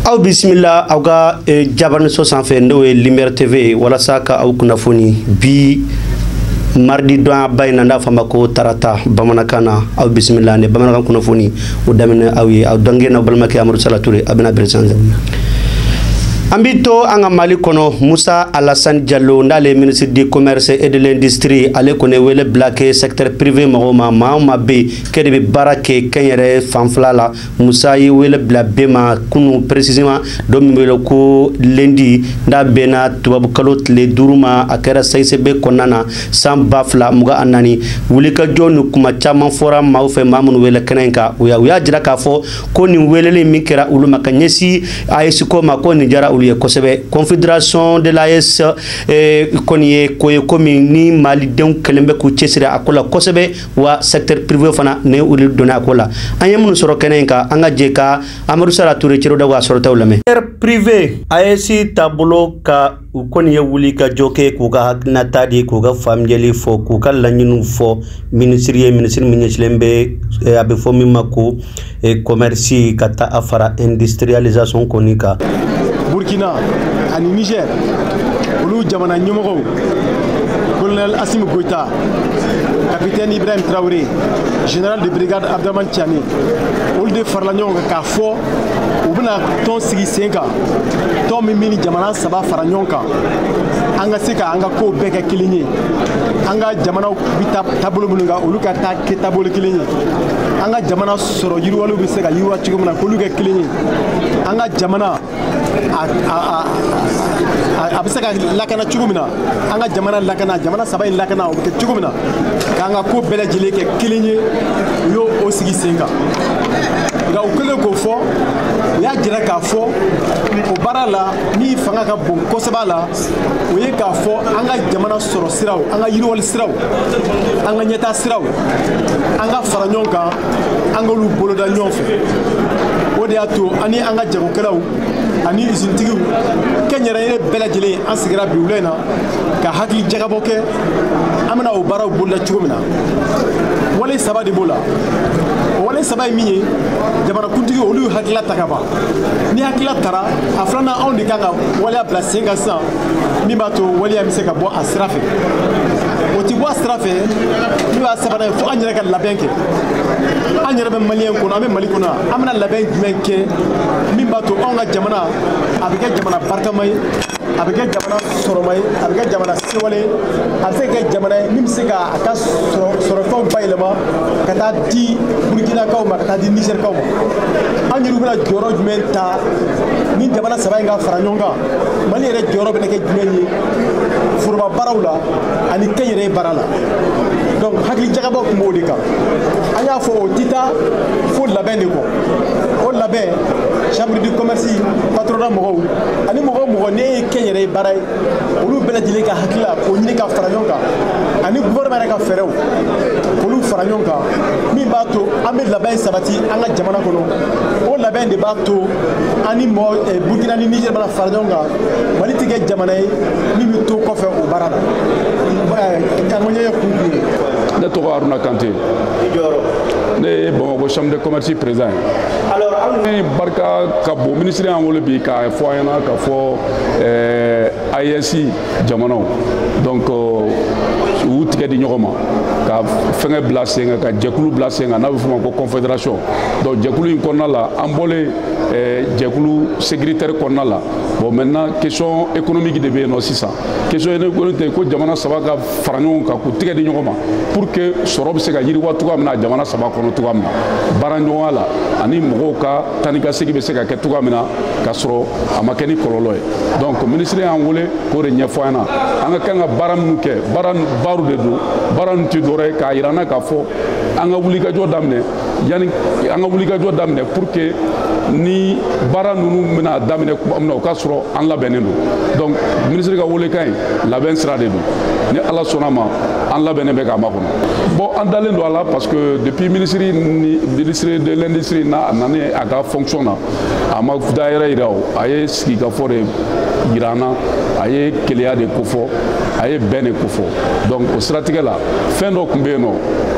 aw bisimila aw ka eh, jabaraninso sanfɛ n'o ye lumière tv walasa ka aw kunnafoni bi mardi donba in na n'a fɔ ma ko tarata bamanankan na aw bisimila ni bamanankan kunnafoni o daminɛ aw ye aw dɔgɔkɛ n'aw balimakɛ amadu sala ture a bɛna bere sanfɛ an bi to an ka mali kɔnɔ musa alassane diallo n'ale ministre du commerce et de l'industrie ale kɔni wele bila kɛ secteur privé mɔgɔw ma maa ma bɛ ke de bɛ baara kɛ kɛnyɛrɛ fanfɛla la musa ye wele bila bɛɛ ma kunu précisément don min wele ko lundi n'a bɛnna tubabukalo tile duuru ma a kɛra CICB kɔnɔna na san ba fila mugan ni naani wulikajɔ ni kuma caman fɔra maaw fɛ maa minnu wele kɛnɛ in kan u y'a u y'a jira k'a fɔ ko nin weleli min kɛra olu ma ka ɲɛsin AES ko ma kɔni diyara olu ye kosɛbɛ confédération de l'AES eh, kɔni ye ko ye ko min ni malidenw kɛlen bɛ k'u cɛsiri a ko la kosɛbɛ wa secteur privé fana ne olu donna a ko la an ye minnu sɔrɔ kɛnɛ in kan an ka jɛ ka amadu sala ture cero daw ka sɔrɔtaw lamɛn secteur privé AES taabolo kan u kɔni ye wuli ka jɔ kɛ k'u ka hakilinata di k'u ka faamuyali fɔ k'u ka laɲiniw fɔ minisiri ye minisiri min ɲɛsilen bɛ eh, a bɛ fɔ min ma ko e commerce ka taa a fara industrialisation kɔni kan burkina ani niger olu jamana ɲɛmɔgɔw colonel asimi goita capitaine ibrahim traoré général de brigade abdraman tiani olu de farala ɲɔgɔn kan k'a fɔ u bɛna tɔn sigi sen kan tɔn min bɛ nin jamana saba fara ɲɔgɔn kan an ka se ka an ka kow bɛɛ kɛ kelen ye an ka jamanaw bɛ taa taabolo minnu kan olu ka taa kɛ taabolo kelen ye an ka jamana sɔrɔ yiriwaliw bɛ se ka yiriwa cogo min na k'olu kɛ kelen ye an ka jamana a bɛ se ka lakana cogo min na an ka jamana lakana jamana saba in lakana o bɛ kɛ cogo min na k'an ka ko bɛɛ lajɛlen kɛ kelen ye u y'o o sigi sen kan nka u kɛlen k'o fɔ u y'a jira k'a fɔ o baara la min fanga ka bon kosɛbɛ a la o ye k'a fɔ an ka jamana sɔrɔ siraw an ka yiriwali siraw an ka ɲɛtaa siraw an ka fara ɲɔgɔn kan an k'olu boloda ɲɔgɔn fɛ o de y'a to an ni an ka jagokɛlaw ani izinitigiw kɛnyɛrɛye bɛɛ lajɛlen an sigira bi wula in na ka hakili jagabɔ kɛ an bɛna o baaraw boloda cogo min na wale saba de b'o la o wale saba ye min ye jamanakuntigi olu y'u hakilila ta ka ban ni hakilila tara a filanan anw de kan ka waleya bila sen kan sisan min b'a to waleya bɛ se ka bɔ a sira fɛ o ti bɔ a sira fɛ n'o y'a sabanan ye fo an yɛrɛ ka labɛn kɛ an yɛrɛ bɛ maliyɛn kɔnɔ an bɛ mali kɔnɔ an bɛna labɛn jumɛn kɛ min b'a to anw ka jamana a bɛ kɛ jamana barikama ye a bɛ kɛ jamana sɔrɔma ye a bɛ kɛ jamana sewalen ye a bɛ se ka kɛ jamana ye min bɛ se ka a ka sɔrɔfɛnw bayɛlɛma ka taa di burkinakaw ma ka taa di nizɛrikaw ma an yɛrɛw bɛna jɔyɔrɔ jumɛn ta ni jamana saba in ka fara ɲɔgɔn kan mali yɛrɛ jɔyɔrɔ bɛna kɛ jumɛn ye foroba baaraw la ani kɛnyɛrɛye baara la donc hakili jagabɔ tun b'o de kan an y'a fɔ o tɛ taa fo labɛn de kɔ o labɛn chambre de commerce patronat mɔgɔw ani mɔgɔ o mɔgɔ ni an ye kɛnyɛrɛye baara ye olu bɛɛ lajɛlen ka hakilila k'o ɲini ka fara ɲɔgɔn kan ani gouvernement yɛrɛ ka fɛɛrɛw k'olu fara ɲɔgɔn kan min b'a to an bɛ labɛn sabati an ka jamana kɔnɔ o labɛn de b'a to an ni mɔɔ eh, burkina ni niger bɛna fara ɲɔgɔn kan mali tɛ kɛ jamana ye min bɛ to kɔfɛ o baara la kankoɲɛ ye kun kun ye ne tɔgɔ haruna kante ne ye bamakɔ chambre de commerce président ye barika ka bon minisiri y'an wele bi k'a fɔ an ɲɛna k'a fɔ eh, aes jamanaw donc euh, u tigɛ di ɲɔgɔn ma ka fɛngɛ bila sen kan ka jɛkulu bila sen kan n'a bɛ f'o ma ko confédération donc jɛkulu in kɔnɔna la an bɔlen eh, jɛkulu sécuritaire kɔnɔna la bon maintenant question économique de bɛ yen nɔ sisan question économique tɛ ko jamana saba ka fara ɲɔgɔn kan k'u tigɛ di ɲɔgɔn ma pour que sɔrɔ bɛ se ka yiriwa cogoya min na jamana saba kɔnɔ cogoya min na baara ɲɔgɔnya la ani mɔgɔw ka taa ni ka segin bɛ se ka kɛ cogoya min na k'a sɔrɔ a ma kɛ ni kɔlɔlɔ ye donc minisiri y'an wele k'o de ɲɛfɔ an ɲɛna an ka kan ka baara minnu kɛ baara baro de don baara ninnu tɛ dɔwɛrɛ ye k'a yira an na k'a fɔ an ka wulikajɔ daminɛ yanni an ka wulikajɔ daminɛ pour que ni baara ninnu bɛna daminɛ tuma min na o ka sɔrɔ an labɛnnen don donc minisiri ka welekan in labɛn sira de don ni ala sɔnna a ma an labɛnnen bɛ k'a makɔnɔ bon an dalen don a la parce que depuis ministre ni ministre de l'industrie na a nalen a ka fonction na a ma dɔwɛrɛ yira o a ye sigikafɔ de yira an na a ye kelenya de kofɔ a ye bɛn de kofɔ donc o siratigɛ la fɛn dɔ tun bɛ yen nɔ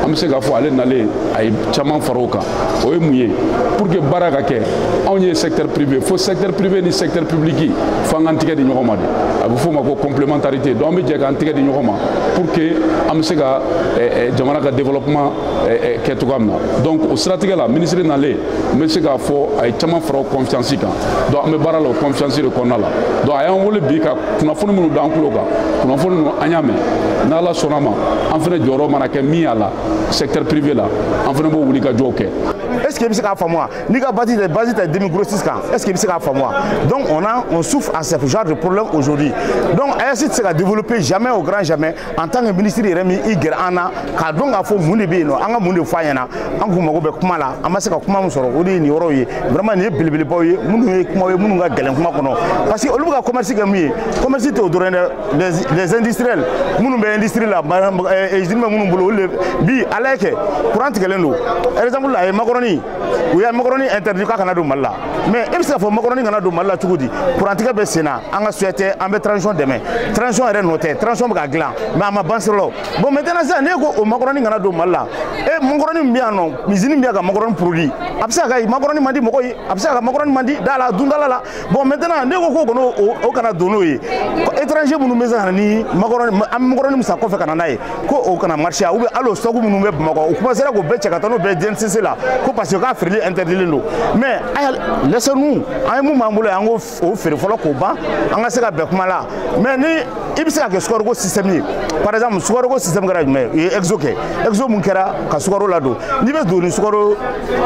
an bɛ se k'a fɔ ale nalen a ye caman fara o kan o ye mun ye pour que baara ka kɛ anw ye secteur privé fo secteur privé ni secteur public fo an k'an tigɛ di ɲɔgɔn ma de a bɛ f'o ma ko complémentarité donc an bɛ jɛ k'an tigɛ di ɲɔgɔn ma pour que an bɛ se ka eh, eh, jamana ka développement eh, kɛ cogoya min na donc o siratigɛ la ministre nalen n bɛ se k'a fɔ a ye caman fara o confiance kan donc an bɛ baara la o confiance de kɔnɔna la donc a y'an wele bi ka kunnafoni minnu d'an tulo kan kunnafoni ninnu an y'a mɛn n'ala sɔnna ma an fana jɔyɔrɔ mana kɛ min y'a la secteur privé la an fana b'o wulikajɔw kɛ est ce que i bɛ se k'a faamu wa N'i ka base tɛ base tɛ demi grossiste kan est ce que i bɛ se k'a faamu wa donc on a on souffre à ce genre de problème aujourd'hui donc AES tɛ se ka développer jamais au grand jamais en tant que ministre yɛrɛ m'i gɛrɛ an na k'a dɔn k'a fɔ mun de bɛ yen nɔ an ka mun de fɔ a ɲɛna an kun mago bɛ kuma la an ma se ka kuma min sɔrɔ o de ye nin yɔrɔw ye vraiment nin ye belebelebaw ye minnu ye kuma ye minnu ka gɛlɛn kuma kɔnɔ parce que olu bɛ ka commerce kɛ min ye commerce tɛ o dɔrɔn dɛ les les industriels minnu bɛ industrie la usine bɛ minnu bolo olu de bi a lajɛ kɛ courant tigɛlen don exemple la a ye makɔrɔni u ye makɔrɔni interdit k'a kana don mali la mais e bɛ se k'a fɔ makɔrɔni kana don mali la cogo di kurantigɛ bɛ sen na an ka souhait tɛ an bɛ transition dɛmɛ transition yɛrɛ nɔ tɛ transition bɛ ka dilan mais a ma ban sira la bon maintenant sisan n'e ko o makɔrɔni kana don mali la e makɔrɔni min bɛ yan nɔ usine min bɛ yan ka makɔrɔni produit a bɛ se ka kɛ makɔrɔni man di mɔgɔ ye a bɛ se ka kɛ makɔrɔni man di da la dundala la bon maintenant n'e ko ko non o kana don n'o ye étranger minnu bɛ se ka na ni makɔrɔni an bɛ makɔrɔni min san kɔfɛ ka na n'a ye ko o kana marché a ou bien hali o stock minnu bɛ bamakɔ u commencera k'o bɛɛ cɛ ka taa n'o bɛɛ DNCC la ko parce que k'a feereli interdilen don mais laissez nous an ye min b'an bolo yan an k'o feere fɔlɔ k'o ban an ka se ka bɛn kuma la mais ni i bɛ se ka kɛ sukaroko système ye par exemple sukaroko système kɛra jumɛn ye u ye exo kɛ exo min kɛra ka sukaro ladon n'i bɛ don ni sukaro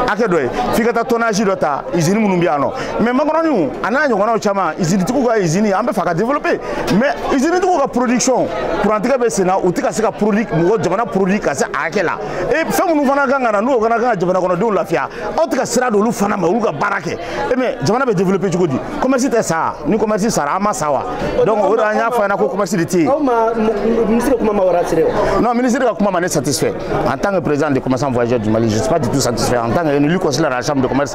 hakɛ dɔ ye f'i ka taa tonnage dɔ ta usine minnu bɛ yan nɔ mais makɔrɔniw a n'a ɲɔgɔnnaw caman izinitigiw ka izini an b'a fɛ ka développer mais izinitigiw ka production kurantigɛ bɛ senna u tɛ ka se ka produit mɔgɔ jamana produit ka se a hakɛ la e fɛn minnu fana kan ka na n'o fana kan ka jamana kɔnɔdenw lafiya aw tɛ ka sira d'olu fana ma olu ka baara kɛ e mais jamana bɛ développer cogo di commerce tɛ sa ni commerce sara an ma sa wa donc o de an y'a fɔ a ɲɛna ko commerce de tɛ yen. aw ma ministre ka kuma m'aw rassurer wa. non ministre ka kuma ma ne satisfait en tant que président des commerçants voyageurs du Mali je suis pas du tout satisfait en tant que élu conseiller de la chambre de commerce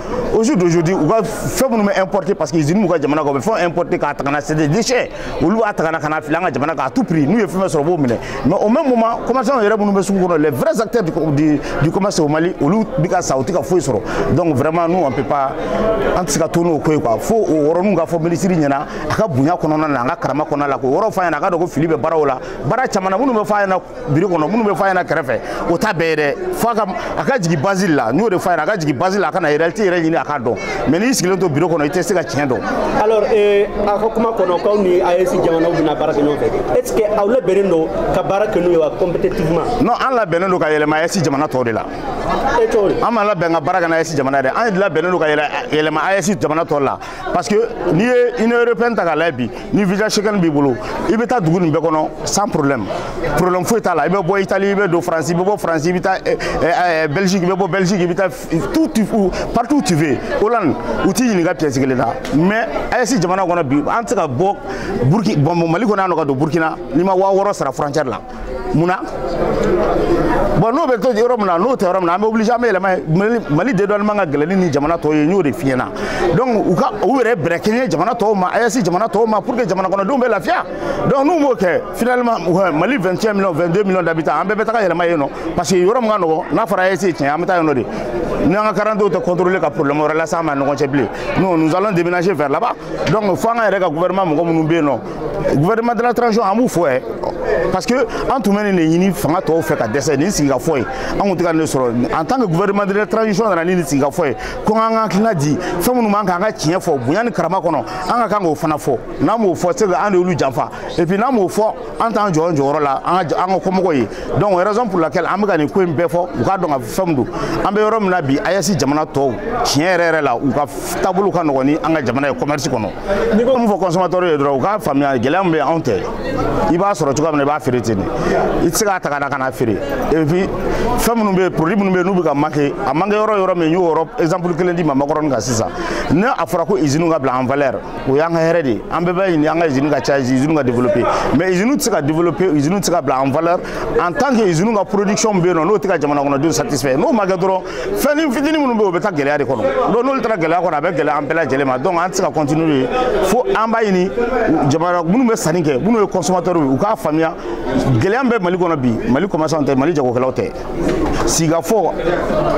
au jour d'aujourd'hui u ka fɛn minnu bɛ importer parce que usine b'u ka jamana kɔ u bɛ fɛn importer k'a ta ka na c'est des déchets olu b'a ta ka na ka na fili an ka jamana kan à tout prix n'u ye fɛn fɛn sɔrɔ u b'o minɛ mais au même moment commerçants yɛrɛ minnu bɛ sugu kɔnɔ les vrais acteurs du, du, du commerce au Mali olu bɛ ka sa u tɛ ka foyi sɔrɔ donc vraiment nous on peut pas an tɛ se ka to n'o ko ye quoi fo o yɔrɔninw ka fɔ minisiri ɲɛna a ka bonya kɔnɔna n'a ka karama kɔnɔna la k'o yɔrɔ f'a ɲɛna a k'a dɔn ko fili bɛ baaraw la baara caman na minnu bɛ f'a ɲɛna biro kɔnɔ minnu bɛ fɔ a ɲɛna kɛrɛfɛ o t'a bɛɛ ye dɛ fo a ka a ka jigin base la n y'o de fɔ a ɲɛna a ka jigin base la a ka na réalité yɛrɛ ɲini a k'a dɔn mais n'i sigilen to biro kɔnɔ i tɛ se ka tiɲɛ dɔn. alors eh, a ka kuma kɔnɔ k'aw ni AES jamanaw bɛna baara kɛ ɲɔgɔn fɛ est ce que aw labɛnnen don ka baara kɛ n'u ye wa compétitivement. non an labɛnnen don ka yɛlɛma AES jamana tɔw de la. e t'o ye. an ma labɛn ka baara kɛ n'AES jamana ye dɛ an labɛnnen don ka yɛlɛma AES jamana tɔw la. parce que n'i ye union européenne ta k'a lajɛ bi ni visa schengen b'i bolo i bɛ taa dugu nin bɛɛ kɔnɔ sans problème problème foyi t'a la i bɛ bɔ italie i bɛ don france i bɛ bɔ france i bɛ taa eh, eh, eh, belgique i bɛ bɔ belgique i bɛ taa tout tout partout tu veux hollande u t'i ɲininka pièce kelen na mais AES jamana kɔnɔ bi an tɛ se ka bɔ burkina bɔ mali kɔnɔ yan nɔ ka don burkina n'i ma waa wɔɔrɔ sara frontière la munna bon n'o bɛ to yɔrɔ min na n'o tɛ yɔrɔ min na an bɛ obligé an bɛ yɛlɛma yen mali dédouanement ka gɛlɛn ni jamana tɔw ye n y'o de f'i ɲɛ na donc u ka u yɛrɛ bɛrɛ kɛɲɛ jamana tɔw ma aes jamana tɔw ma pour que jamana kɔnɔdenw bɛ lafiya donc n'u m'o kɛ finalement mali 21 millions 22 millions d'habitants an bɛɛ bɛ taga yɛlɛma yen nɔ parce que yɔrɔ min ka nɔgɔ n'a fɔra aes tiɲɛ an bɛ taa yen nɔ de ni an ka karadante contrôler ka problème wɛrɛ lase an ma ɲɔgɔn cɛ bilen nous nous allons déménager vers là-bas donc fo an ka yɛrɛ ka gouvernement mɔgɔ minnu bɛ yen nɔ gouvernement de la transition an b'u fo ɛ parce que an tun bɛ nin de ɲini fanga tɔw fɛ ka dɛsɛ nin sigikafɔ ye an tun tɛ ka nin de sɔrɔ en tant que gouvernement de la transition nana ni nin sigikafɔ ye ko an ka hakilina di fɛn minnu b'an kan an ka tiɲɛ fɔ bonya ni karama kɔnɔ an ka kan k'o fana fɔ n'an m'o fɔ c'est que an de y'olu janfa et puis n'an m'o fɔ an t'an jɔ an jɔyɔrɔ la an ka an ka kɔmɔgɔw ye donc raison pour laquelle an bɛ ka nin ko in bɛɛ fɔ u k'a dɔn ka faamu donc an bɛ yɔrɔ min na bi ayɛsi jamana tɔw tiɲɛ yɛrɛ yɛrɛ la u ka taabolo ka nɔgɔn ni an ka jamana ye commerce kɔnɔ n'i ko min fɔ consommateur ye dɔrɔn u k'a faamuya gɛlɛya min bɛ anw tɛ i b'a sɔrɔ cogoya min na i b'a feere ten de i tɛ se k'a ta ka na ka n'a feere et puis fɛn minnu bɛ yen produit minnu bɛ yen n'u bɛ ka manquer a manquer yɔrɔ yɔrɔ min n y'o yɔrɔ exemple kelen d'i ma makɔrɔni kan sisan ni a fɔra ko usine ka bila en valeur o y'an ka hɛrɛ de ye an bɛɛ b'a ɲini an ka usine ka caya usine ka développer mais usine tɛ se ka développer usine tɛ se ka bila en valeur en tant que usine ka production bɛ yen nɔ n'o tɛ ka jamana kɔnɔdenw satisfait n'o ma kɛ dɔrɔn fɛnnin fitinin minnu bɛ yen o bɛ taa gɛlɛya de kɔnɔ donc n'olu taara gɛlɛya kɔnɔ a bɛ gɛlɛya an bɛɛ lajɛlen ma donc an tɛ se ka continuer de fo an b'a ɲini jamana minnu bɛ sanni kɛ minnu ye consommateurs ye u k'a faamuya gɛlɛya min bɛ mali kɔnɔ bi mali commerçants tɛ mali jagokɛlaw tɛ sigikafɔ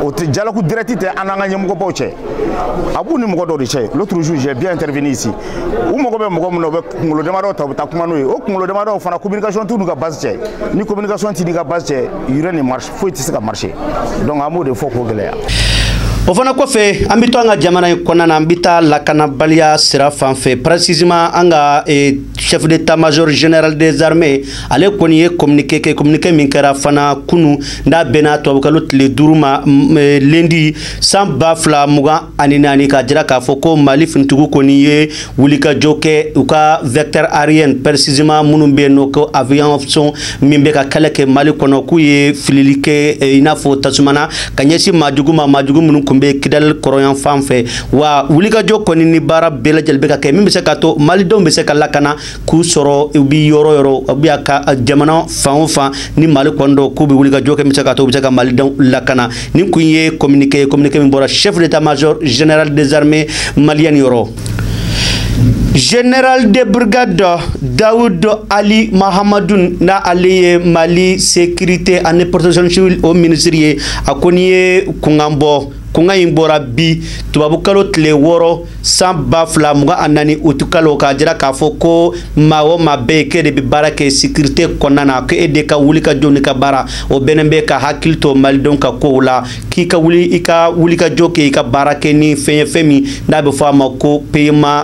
o tɛ dialogue direct tɛ an n'an ka ɲɛmɔgɔbaw cɛ a b'u ni mɔgɔ dɔw de cɛ l'autre jour j'ai bien intervenu ici u mago bɛ mɔgɔ min na u bɛ kunkolo damadɔ ta u bɛ taa kuma n'o ye o kunkolo damadɔ fana communication t'u n'u ka base cɛ ni communication t'i n'i ka base cɛ rien ne marche foyi tɛ se ka marcher donc an b'o de fɔ k'o gɛlɛya o fana kɔfɛ an bɛ to an ka jamana in kɔnɔna na an bɛ taa lakanabaliya sira fan fɛ précisément an ka eh, chef d'état major général des armées ale kɔni ye communiqué kɛ communiqué min kɛra fana kunu n'a bɛnna tubabukalo tile duuru ma mm, eh, lundi san ba fila mugan ani naani k'a jira k'a fɔ ko mali finitigiw kɔni ye wulikajɔ kɛ u ka vecteur aérien précisément minnu bɛ yen nɔ ko avion min bɛ ka kɛlɛ kɛ mali kɔnɔ k'u ye filili kɛ eh, i n'a fɔ tasuma na ka ɲɛsin maajugu ma maajugu minnu tun bɛ kidali kɔrɔnyan fan fɛ wa wulikajɔ kɔni ni baara bɛɛ lajɛlen bɛ ka kɛ min bɛ se ka to malidenw bɛ se ka lakana k'u sɔrɔ u bɛ yɔrɔ yɔrɔ u bɛ a ka eh, jamana fan o fan ni mali kɔni don k'u bɛ wulikajɔ kɛ min bɛ se ka to u bɛ se ka malidenw lakana nin kun ye communiqué ye communiqué min bɔra chef d'état major général des armées maliennes yɔrɔ Général de brigade Dawud Ali Mahamadun n'a ale ye Mali sécurité ani protection civile o ministre ye a kɔni ye kunkan bɔ kunkan in bɔra bi tubabukalo tile wɔɔrɔ san ba fila mugan ani naani utukalo k'a jira k'a fɔ ko maa o maa bɛ yen k'e de bɛ baara kɛ sécurité kɔnɔna na k'e de ka wulikajɔ n'i ka baara o bɛnnen bɛ ka hakili to malidenw ka kow la k'i ka wuli i ka wulikajɔ kɛ i ka baara kɛ ni fɛn ye fɛn min n'a bɛ fɔ a ma ko paiement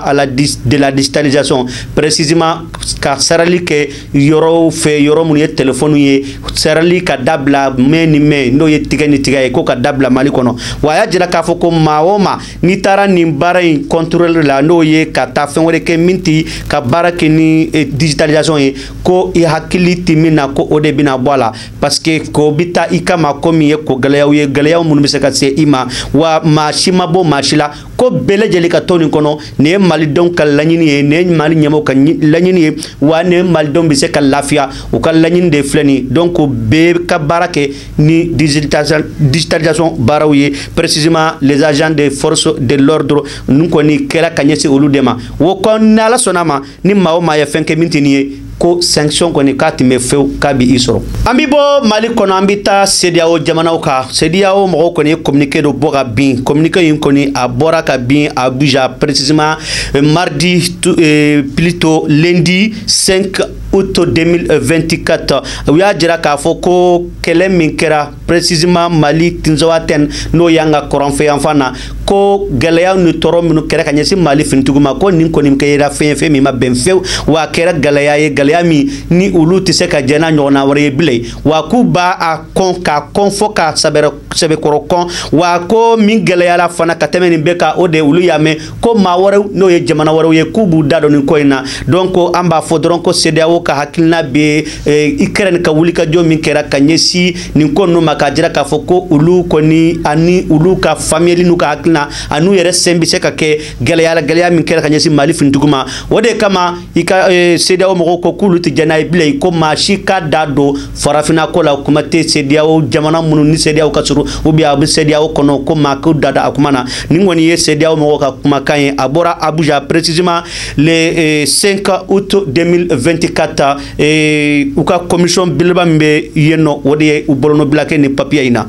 de la digitalisation précisément ka sarali kɛ yɔrɔw fɛ yɔrɔ minnu ye telefɔniw ye sarali ka dabila main ni main n'o ye tigɛ ni tigɛ ye k'o ka dabila mali kɔnɔ wa a y'a jira k'a fɔ ko maa o maa n'i taara nin baara in contrôle la n'o ye ka taa fɛn wɛrɛ kɛ min tɛ ka baara kɛ ni eh, digitalisation ye ko i hakili tɛ min na ko o de bɛna bɔ a la parce que ko bɛ taa i kama ko min ye ko gɛlɛyaw ye gɛlɛyaw minnu bɛ se ka se i ma wa maa si ma bɔ maa si la ko bɛɛ lajɛlen ka to nin kɔnɔ nin ye malidenw ka laɲini ye nin ye mali ɲɛmɔgɔw ka laɲini ye wa nin ye malidenw bɛ se ka lafiya u ka laɲini de filɛ nin donc ko bɛɛ ka baara kɛ ni digitalisation baaraw ye précisément les agents des forces de l'ordre ninnu kɔni kɛra ka ɲɛsin olu de ma o kɔni n'ala sɔnn'a ma ni maa o maa ye fɛn kɛ min tɛ nin ye ko sanction kɔni k'a tɛ mɛn fewu k'a bɛ i sɔrɔ an bɛ bɔ mali kɔnɔ an bɛ taa CEDEAO jamanaw kan CEDEAO mɔgɔw kɔni ye communiqué dɔ bɔ ka bin communiqué in kɔni a bɔra ka bin abuja précisément euh, mardi euh, plutôt lundi 5 août 2024 u y'a jira k'a fɔ ko kɛlɛ min kɛra précisément mali Tinzawatène n'o y'an ka kɔrɔnfɛyanfan na ko gɛlɛya ni tɔɔrɔ minnu kɛra ka ɲɛsin mali finitigiw ma ko nin kɔni kɛra fɛn ye fɛn min ma bɛn fewu wa a kɛra gɛlɛya ye gɛlɛya min ni olu tɛ se ka jɛ n'a ɲɔgɔnna wɛrɛ ye bilen wa k'u b'a a kɔn k'a kɔn fo k'a sɛbɛkɔrɔ kɔn wa ko min gɛlɛyara fana ka tɛmɛ nin bɛɛ kan o de olu y'a mɛn ko maa wɛrɛw n'o ye jamana wɛrɛw ye k'u b'u da don nin ko in na donc ko an b'a fɔ dɔrɔn ko CEDEAO ka hakilina bɛ eh, Ukraine ka wulikajɔ min kɛra ka ɲɛsin nin ko ninnu ma k'a jira k'a fɔ ko olu kɔni ani olu ka faamuyali n'u ka hakilina an'u yɛrɛ sen bɛ se ka kɛ gɛlɛya la gɛlɛya min kɛra ka ɲɛsin Mali finitigiw ma o de kama i ka eh, CEDEAO mɔgɔw ko k'olu tɛ jɛn n'a ye bilen ko maa si k'a da don farafinna ko la kuma tɛ CEDEAO jamana minnu ni CEDEAO ka surun ou bien a bɛ CEDEAO kɔnɔ ko maa k'u da da a kuma na nin kɔni ye CEDEAO mɔgɔw ka kumakan ye a bɔra abuja précisément le 5 eh, août 2024 eh, u ka commission belebeleba min bɛ yen nɔ o de ye u bolonɔbila kɛ nin papier in na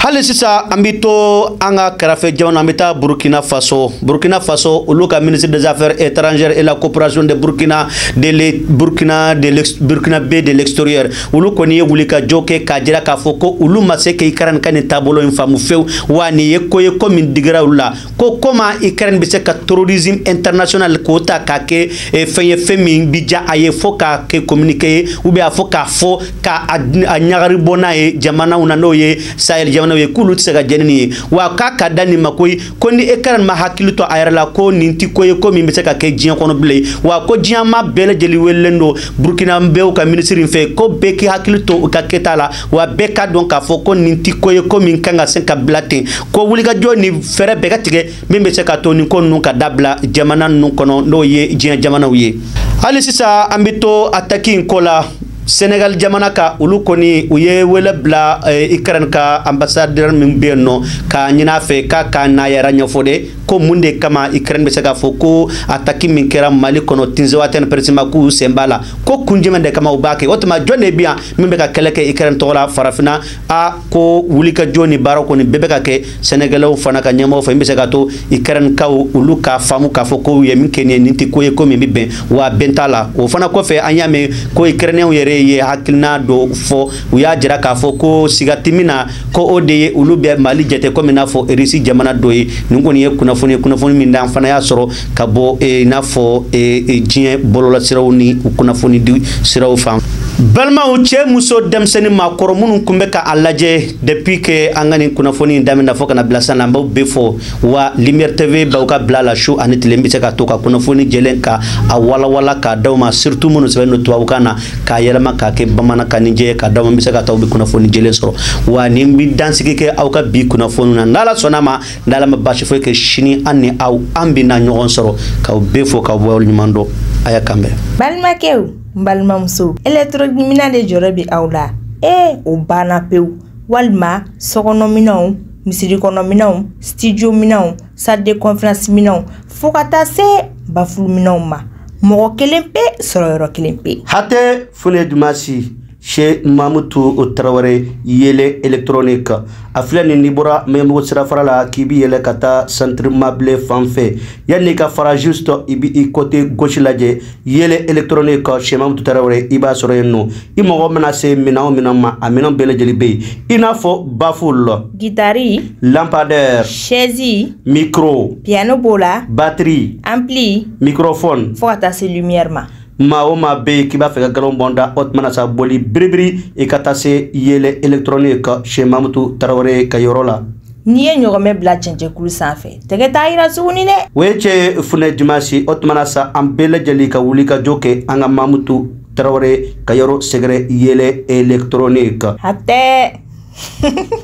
hali sisan an bɛ to an ka kɛrɛfɛ jamana an bɛ taa burkina faso burkina faso olu ka ministre des affaires étrangères et la coopération des Burkinabè de l'extérieur olu kɔni ye wulikajɔ kɛ k'a jira k'a fɔ ko olu ma se ka Ukraine ka nin taabolo in faamu fewu wa nin ye ko ye ko min digira olu la ko comment ukraine bɛ se ka terrorisme international k'o ta k'a kɛ eh, fɛn ye fɛn min bi diya a ye fo k'a kɛ communiqué ye ou bien a fo k'a fɔ ka a ɲagari bɔ n'a ye jamanaw na n'o ye sahel jamanaw ye k'olu tɛ se ka jɛn ni nin ye wa k'a ka dan nin ma koyi ko ni ukraine ma hakili to a yɛrɛ la ko nin tɛ ko ye ko min bɛ se ka kɛ diɲɛ kɔnɔ bilen wa ko diɲɛ maa bɛɛ lajɛlen welelen don burkinabɛw ka minisiri in fɛ ko bɛɛ k'i hakili to u ka kɛta la wa bɛɛ ka dɔn k'a fɔ ko nin ti ko ye ko min kan ka se ka bila ten ko wulikajɔ ni fɛɛrɛ bɛɛ ka tigɛ min bɛ se ka to nin ko ninnu ka dabila jamana ninnu kɔnɔ n'o ye diɲɛ jamanaw ye hali sisan an bɛ to ataki in ko la senegal jamana kan olu kɔni u ye wele bila eh, ukraine ka ambassadeur min bɛ yen nɔ k'a ɲini a fɛ k'a ka n'a yɛrɛ ɲɛfɔ de ko mun de kama ukraine bɛ se k'a fɔ ko ataki min kɛra mali kɔnɔ tinzewatɛni précisément k'u sen b'a la ko kun jumɛn de kama u b'a kɛ o tuma jɔn de bɛ yan min bɛ ka kɛlɛ kɛ ikɛrɛn tɔgɔ la farafinna a ko wulikajɔ ni baara kɔni bɛɛ bɛ ka kɛ sénégalais fana ka ɲɛmɔgɔ fɛ min bɛ se ka to ikɛrɛn kaw olu k'a faamu k'a fɔ ko u ye min kɛ nin ye nin tɛ ko ye ko min bɛ bɛn wa bɛn t'a la o fana kɔfɛ an y'a mɛn ko ikɛrɛnɛw yɛrɛ ye hakilina dɔ fɔ u y'a jira k'a fɔ ko siga tɛ min na ko o de ye olu bɛ mali jate komi n'a fɔ irisi jamana dɔ ye nin kɔni ye kunnafoni ye kunnafoni min d'an fana y'a sɔrɔ ka bɔ eh, i n'a fɔ eh, eh, diɲɛ bɔlɔlɔsiraw ni kunnafonidi siraw fan balimaw cɛ muso denmisɛnni maakɔrɔ minnu tun bɛ ka a lajɛ depuis que an ka nin kunnafoni in daminɛ fo ka na bila san na an b'aw bɛɛ fo wa lumière tv b'aw ka bila la su ani tile bɛ se ka to ka kunnafoni jɛlen ka a walawala k'a d'aw ma surtout minnu sɛbɛn don tubabukan na k'a yɛlɛma k'a kɛ bamanankan ni jɛ k'a d'aw ma min bɛ se ka to aw bɛ kunnafoni jɛlen sɔrɔ wa nin bɛ dansigi kɛ aw ka bi kunnafoni na n'ala sɔnn'a ma n'ala ma baasi foyi kɛ sini an ni aw an bɛna ɲɔgɔn sɔrɔ k'aw bɛɛ fo k'aw waleɲumandɔn ayiwa k'an bɛn balimakɛw ni balimamusow électronique minɛn de jɔrɔ bi aw la ee o banna pewu walima sokɔnɔminɛnw misiri kɔnɔ minɛnw studio minɛnw salle de conférence minɛnw fo ka taa se bafulu minɛnw ma mɔgɔ kelen pe sɔrɔ yɔrɔ kelen pe hatɛ funɛ dumasi chez mamutu tarawele yele electronique a filɛ nin n'i bɔra maɲanbugu sirafara la k'i bi yɛlɛ ka taa centre mabile fan fɛ yanni i ka fara juste i bi i côté gauche lajɛ yele electronique chez mamutu tarawele i b'a sɔrɔ yen nɔ i mako mana se minɛn o minɛn ma a minɛn bɛɛ lajɛlen bɛ yen i n'a fɔ baful gitari lampadaire chaise micro piano b'o la batterie ampli microphone fo ka taa se lumière ma maa o maa bɛ yen k'i b'a fɛ ka galon bɔn da o tuma na sa boli biribiri i ka taa se yele elekitɔrɔniki chez mamutu tarawele ka yɔrɔ la n'i ye ɲɔgɔmɛ bila cɛncɛnkulu sanfɛ tɛgɛ t'a yira tuguni dɛ o ye cɛ ye funɛ dimasi o tuma na sa an bɛɛ lajɛlen ka wuli ka jɔ kɛ an ka mamutu tarawele ka yɔrɔ sɛgɛrɛ yele elekitɔrɔniki hatɛ